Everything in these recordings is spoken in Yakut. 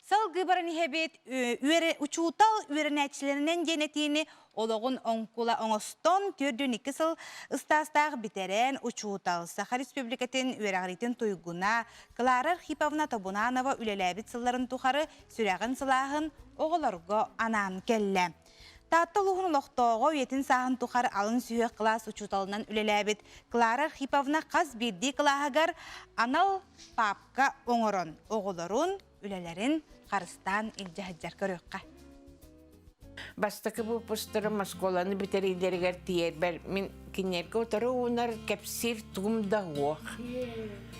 Салгыы баран иһэбит учуутал үөрэнээччилэринэн диэн этиини олоҕун оҥкула оҥостон түөрдүн икки сыл ыстаастаах бүтэрэн учуутал Саха Республикатын үөрэҕириитин туйгуна Клара Архиповна Тобунанова үлэлээбит сылларын тухары сүрэҕин сылааһын оҕолорго анаан кэллэ. Таатта улууһун олохтооҕо, үйэтин сааһын тухар алын сүһүөх кылаас учууталынан үлэлээбит Клара Архиповна хас биирдии кылааһыгар анал паапка оҥорон оҕолорун, үлэлэрин харыстаан илдьэ көрүөххэ. Бастакы выпустларым оскуоланы бүтэриилэригэр тиэрбэр мин кинилэргэ утары уунар кэпсиир тугум да уох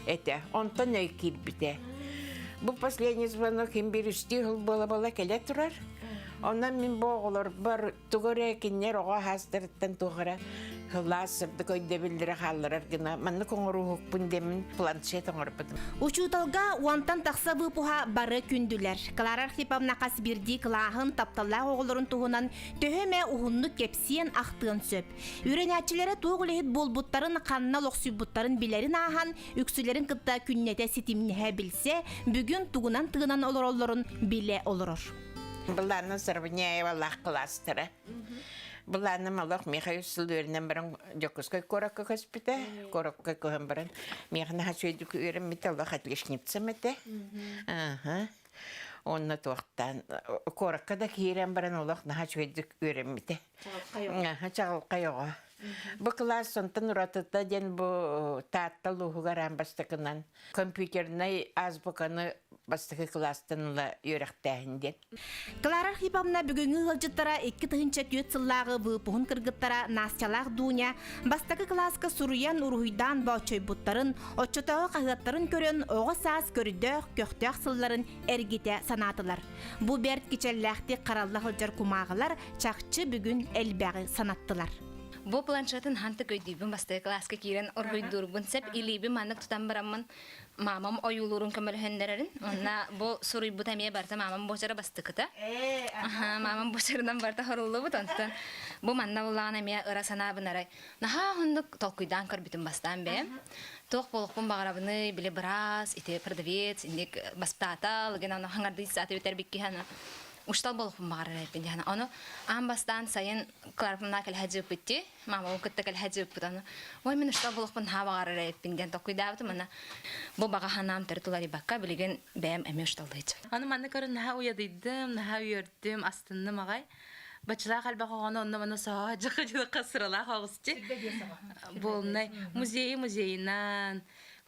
этэ. Онтон өй киирбитэ. Бу последний звонок им бир үстүү хыл бола-бола кэле турар. Онон мин бу оҕолорбор тугу эрэ кинилэр оҕо хаастарыттан туох эрэ ылаас сырдык өйдөбүллэрэ хаалларар гына маннык оҥорууһукпун дэмин планшет оҥорбутум. Учууталга уонтан тахса быыпуһа бары күндүлэр. Клара Архиповна хас бирдии кылааһын тапталлаах оҕолорун туһунан төһө эмэ уһуннук кэпсиэн, ахтыан сөп. Үөрэнээччилэрэ туох үлэһит буолбуттарын, ханна олохсуйбуттарын билэрин ааһан, үксүлэрин кытта күннэтэ ситимнэһэ билсэ, бүгүн тугунан тыынан олороллорун билэ олорор. Быланна Сарвыняевалаах кластера. Быланным олох Михаил Сылдеринен баран Дьокуускай куоракка көспүтэ. Куоракка көһөн баран Михана Хачуйдук үөрэммитэ олох отличницам этэ. Аха. Онно туохтан куоракка да киирэн баран олох наһа үчүгэйдик үөрэммитэ. чаҕылхай оҕо. Бу кылаас сонтон уратыта диэн бу Таатта улууһугар аан бастакынан компьютернай азбуканы бастакы кылаастан ыла үөрэхтээһин диэн. Клара Архиповна бүгүҥҥү ыалдьыттара икки тыһыынча түөрт сыллааҕы выпуһун кыргыттара Настялаах Дуня бастакы кылааска суруйан уруһуйдаан бооччойбуттарын, оччотооҕу хаһыаттарын көрөн оҕо саас көрдөөх көхтөөх сылларын эргитэ санаатылар. Бу бэрт кичэллээхтик харалла сылдьар кумааҕылар чахчы бүгүн элбэҕи санаттылар. Бу планшетін хантык өйдүүбүн бастакы класска киирэн оргуйдуурбун сөп илиибин маннык тутан бараммын маамам ойуулуурун көмөлөһөннөрөрүн уонна бу суруйбута эмиэ барыта маамам буочара бастыкыта маамам буочарынан барыта хоруллубут онтон бу манна буллаҕына эмиэ ыра санаабынарай Наһаа уһуннук толкуйдаан көрбүтүм бастаан бэйэм. Туох буолуохпун баҕарабыный, били быраас, ити продавец, инник бастаатал, гына ону хаҥардыы сааты бүтэрбикки хана учтал болуқпун баҕарар этин дьана ону аан бастаан сайын Кларпымнаа кэлэһэ дьыыппытти маамабын кытта кэлэһэ дьыыппыт ону ой мин учтал болуқпун haa баҕарар эппин диэн токуйдаабытым ана бу бағаһанаам тәрі туларибакка билигин бэйэм эмиэ учталдайчы аны манна көрүн наһаа уйадыйдым наһаа үөрдүм астынным аҕай Бачылаах элбэх оҕону онно-маны соһо дьахадьылахха сыралаах оҕусчи. Буолнай музейи музейынан,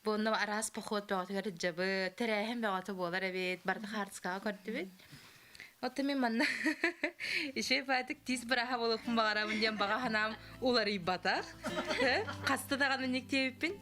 буонна араас поход бөҕөтүгэр дьабы, тэрээһин бөҕөтө буолар эбит, барда хаартыскаҕа көрдүбүт. Оттон мен манна еще баатык тиис быраха болуппун баҕарабын диэн баҕа санаам уларыйбатах. Хаста даҕаны никтиэбиппин.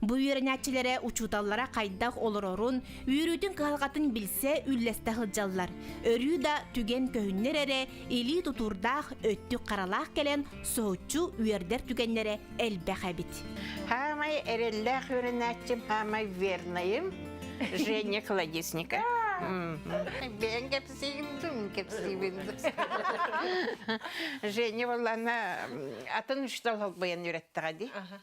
Бу үөрэнээччилэрэ учууталлара хайдах олорорун, үөрүүтүн-кыһалҕатын билсэ үллэстэ сылдьаллар. Өрүү да түгэн көһүннэр эрэ илии тутуурдаах өттүк-харалаах кэлэн соһуччу үөрдэр түгэннэрэ элбэх эбит. Саамай эрэллээх үөрэнээччим, саамай вернайым Женя Колодесника. Бэйэҥ кэпсиим дум, кэпсиибин Женя боллана атын учуутал холбойон үөрэттэҕэ дии.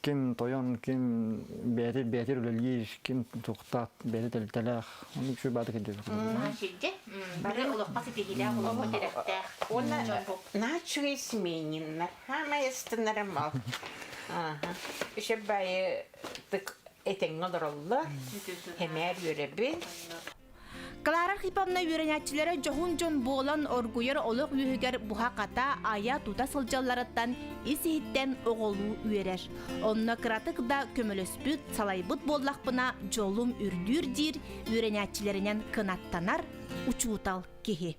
ким тойон, ким бэйэтэ бэйэтэ үлэлиир, ким тохтаат бэйэтэ тэрилтэлээх. Ону үксү баада кирдиэбит. Сирдьэ бары олоххо ситиһиилээх олоххо тирэхтээх уонна началый семейниннар саамай астынара мал еще баайы этеҥҥэ олороллор эмээр үөрэбин Клара Архиповна үөрэнээччилэрэ дьоһун дьон буолан оргуйар олох үөһүгэр буһа-хата айа-тута сылдьалларыттан ис-иһиттэн оҕолуу үөрэр. Онно кыратык да көмөлөспүт, салайбыт буоллахпына дьолум үрдүүр диир үөрэнээччилэринэн кынаттанар учуутал киһи.